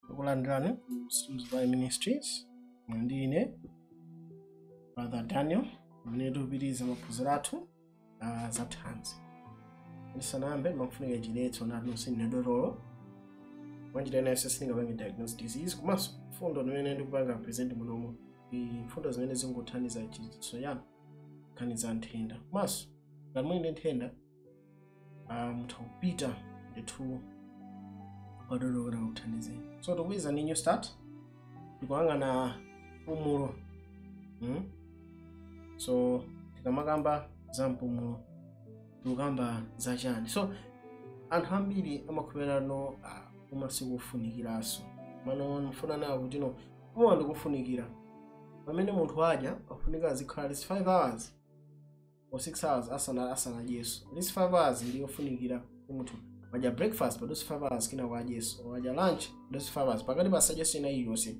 Takulandirani Suzvai Ministries ndine Brother Daniel amene tupitiriza maphunziro athu ah, za thanzi. Ndisanayambe pakufunika chiletso choti sine dotolo mwanjira ina iliyonse sindingapange diagnose disease komanso mfundo zimene ndikupanga present munomo ndi mfundo zimene zingothandiza chidziwitso chanu nkhani za nthenda komanso ngati muli ndi nthenda ah, mutha kupita ndithu kwa dotolo akakuthandizeni so tikupitiriza ndi new start tikuyang'ana mpumulo mm? so tikamakamba za mpumulo tikukamba za chani so anthu ambiri amakhulupirira no uwu ma siwofunikiranso mano mfuna muone kuti no uwu ndi wofunikira pamene munthu adya afunika azikhala at least 5 hours or 6 hours asana asanadyeso at least 5 hours ndi yofunikira kuti munthu wadya breakfast padutse 5 hours kenako adyeso wadya lunch padutse 5 hours pakati pasadyeso china chilichonse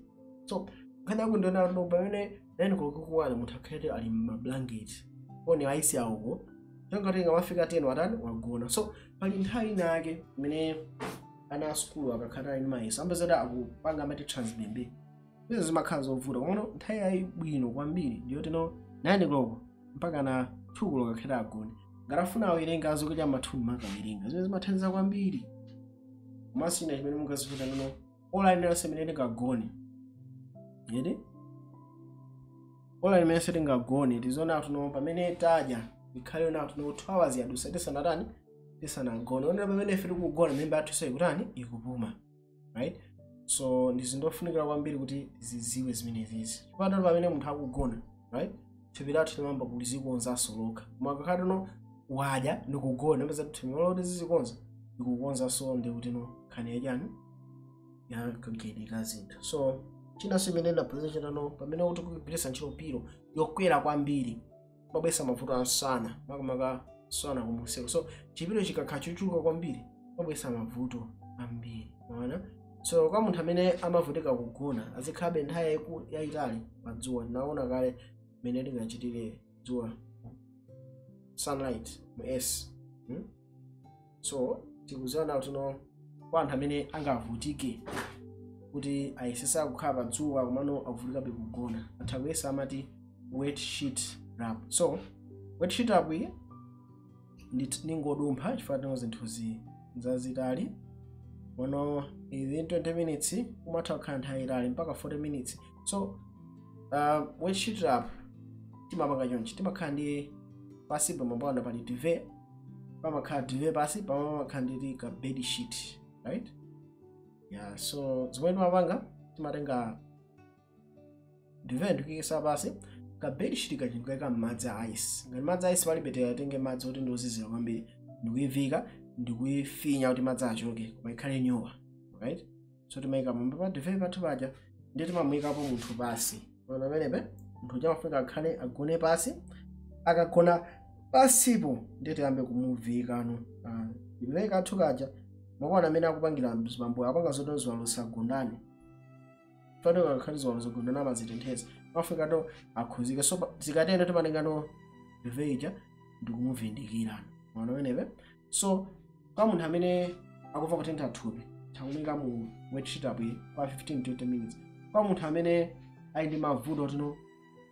so nkhani yake ndi yonena kuti pamene 9 koloko ikukwana munthu akhale ali mmablanket kholinga kuti ikamafika 10 watani wagona so pali nthawi ina yake imene ana a sukulu akakhala ali ndi mayeso amapezeka akupanga amati transbembe izo zimakhala zovuta komano nthawi yabwino kwambiri ndiyoti no 9 koloko mpaka na 2 koloko akhale atagona ngati afuna awerenge adzuke cha ma 3 nkukawerenga zimene zimathandiza kwambiri komanso china chimene mungadziwe ndi chakuti no ola linalonse imene tingagone yeti ola limenenso tingagone tiziona kuti no pamene tadya ikhale yonena kuti no 2 hours yadusa tisanatani tisanagone cholinga pamene ife tikugona mimba yathu nayo ikutani ikupuma right so ndi zinthu zofunikira kwambiri kuti tizidziwe zimenezizi chifukwatu pamene munthu akugona right thupi lathu limayamba kuzikonzanso lokha koma akakhala kuti no wadya ndikugona mupeza kuti thupi moti zizikonza likukonzanso ndi kuti no nkhani yachani ya kagayidwe ka zinthu so chinanso chimene ndaphunzira n'chonena pamene kuti kugwiritsa ntchito pilo yokwera kwambiri kumabweretsa mavuto a msana makamaka msana kumuseko so chipilo chikakhala chochuluka kwambiri chimabweretsa mavuto ambiri mwaona so kwa munthu amene amavutika kugona azikhalabe nthawi yayiku- yayitali pa dzuwa tinaona kale mmene tingachitire dzuwa sunlight mu s hmm? so tikuziwa kuti no kwa anthu amene angavutike kuti ayesesa kukhala pa dzuwa komano akuvutikabe kugona atha kuyesa amati wet sheet wrap so wet sheet wrap iyi ndit- ningodumpha chifukwa choti no zinthuzi nzazitali komano within 20 minutes umatha kukhala nthawi yaitali mpaka 40 minutes so uh, wet sheet wrap timapanga chonchi timakhala ndi pansipo pamayamba pali duvet pamakhala duvet pasi pamwe pamakhala ndi ka bed sheet right yeah so zimene timapanga timatenga duvet ndikuyikisa pasi ka bed sheet kaja ndikuyika m'madzi a ice ngati madzi a ice palibe tikatenge madzi oti ndiozizira kwambiri ndikuyivika ndikuyifinya kuti madzi achoke koma ikhale nyowa right so timayika pamwamba pa duvet pathu paja ndiye timamuyikapo munthu pasi ona pamenepe munthu uja amafunika akhale agone pasi akagona pasipo ndiye tiyambe kumuviikano ah, duvet kathu kaja mukuona mmene akupangira mzibambo apanga zoto ziwalo sagundane poti zikakhala ziwalo zagundana amazitentheza mafika to akhuzike so pa- zikatero timatengano duvet ija ndikumuvindikirano ona pamenepe so kwa munthu amene akumva kutentha thupi titha kumuika mu wet sheet wrap kwa 15 to 20 minutes kwa munthu amene ali ndi mavuto tino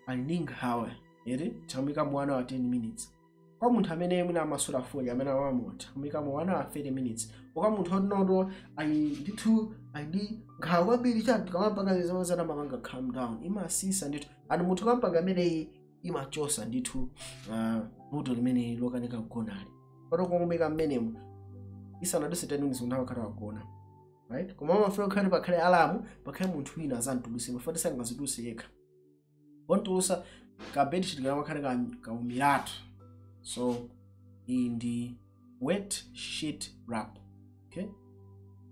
ali ndi nkhawa eti titha kumuika mu 1 hour 10 minutes kwa munthu amene mwina amasuta fodya amene amamwa titha kumuika mu 1 hour 30 minutes kwa munthu otinoto ali ndithu ali ndi nkhawa kwambiri chati tikamapanga zimenezi zimamupanga calm down imasisa ndithu and munthu ukampanga imeneyi imachosa ndithu ah, vuto limeneli lokanika kugonali poti kungomuika mmenemo isanaduse 10 minutes munthu amakhala wagona right koma amafunika kukhale pakhale alamu pakhale munthu wina azamtuluse chifukwa choti sangazituluse yekha pontulusa ka bedsheet kamakhala ka- kaumiratu so iyi ndi wet sheet wrap okay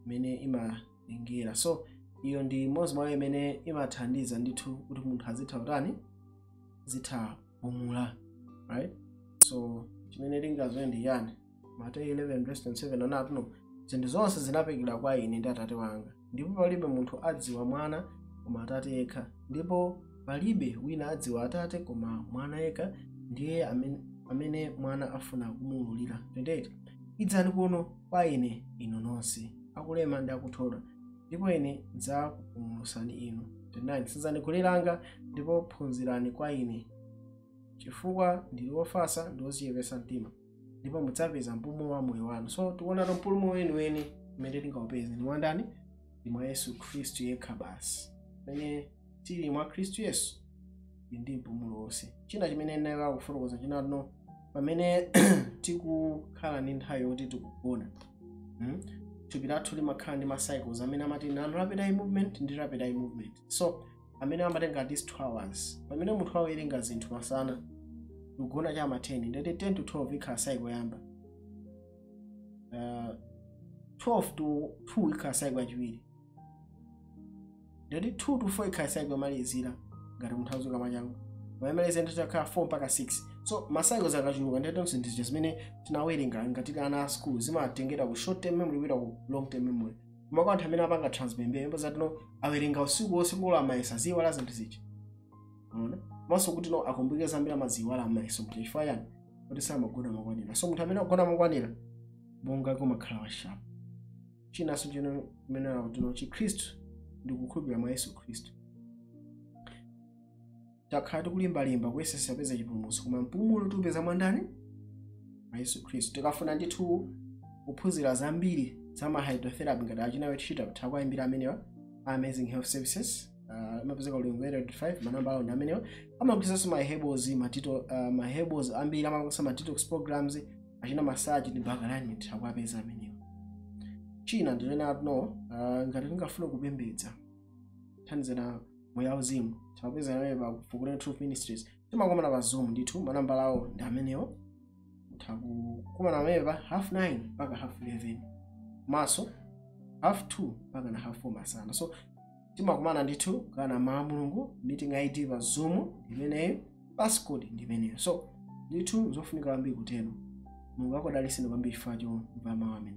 imene ima kulingira so iyo ndi imodzi mwayo imene imathandiza ndithu kuti munthu azitha kutani azitha kupumula right so chimene ndingazowerenge ndi yani mateyu 11 verse 27 anati no zinthu zonse zinaperekedwa kwa ine ndi atate wanga ndipo palibe munthu adziwa mwana koma atate yekha ndipo palibe wina adziwa atate koma mwana yekha ndi iye amene, amene mwana afuna kumuululira 28 idzani kuno kwa ine inu nonse akulema ndi akuthodwa ndipo ine ndidzakupumulusani inu 29 senzani goli langa ndipo phunzirani kwa ine chifukwa ndili wofatsa ndi wodzichepetsa mtima ndipo mudzapeza mpumulo wa moyo wanu so tikuonato mpumulo weniweni umene tingaupeze ndi mwa ndani ndi mwa yesu khristu yekha basi pamene tili mwa khristu yesu tili ndi mpumulo wonse china chimene ndinayiwala kufotokoza chinano pamene tikukhala ndi nthawi yoti tikugona mm? thupi lathu limakhala ndi macycles amene amati non rapid eye movement ndi rapid eye movement so amene amatenga at least 2 hours pamene munthu awerenga zinthu masana kugona cha ma 10 ndiye 10 to 12 ikhala cycle yoyamba uh, 12 to 2 ikhala cycle yachiwiri ndiye kuti 2 to 4 ikhala cycle yomalizira ngati munthu azuka mwachangu pamene yomaliza ndi itakhala 4 mpaka 6 so ma cycles akachuluka ndiye kuti zonse zija zimene tinawerenga ngati ana a school zimatengedwa ku short term memory kupita ku long term memory koma kwa anthu amene apanga trans night ndipo kuti no awerenga usiku wonse kulowa mayeso aziwala zinthu zija unaona komanso kuti no akumbukira zambiri amaziwala mmayeso kuti chifukwa chani kuti samagona makwanira so munthu amene akugona makwanira bongo umakhala wa sharp chinanso chimene ndi kuti no chikhristu ndi kukhulupirira mwa yesu khristu takhala tikulimbalimba kuyesesa kupeza chipulumutso koma mpumulo tiupeza mwa ndani mwa yesu khristu tikafuna ndithu kuphunzira zambiri za ma hydrotherapy ngati achina iyo ndithu mutha kuwaimbira amenewa a amazing health services ah, amapezeka ulongwe 85 manamba awo ndi amenewa amagulitsanso ma herbals matito ah, ma herbals ambiri amapangisa ma detox programs achina massage ndi back alignment mukawapeza amenewo china ndinene kuti no uh, ngati tingafuna kupembedza thandizana moyo wauzimu titha kupezana nanu pa Fukulani Truth Ministries timakumana pa zoom ndithu manambala awo ndi amenewo titha kukumana nanu pa half 9 mpaka half 11 komanso half 2 mpaka na half 4 masana so timakumana ndithu kugawana mawu a mulungu meeting id pa zoom ndi imeneyi passcode ndi imeneyo so ndithu nzofunika kwambiri kutero mulungu akudalitseni kwambiri chifukwa chomva mawu amene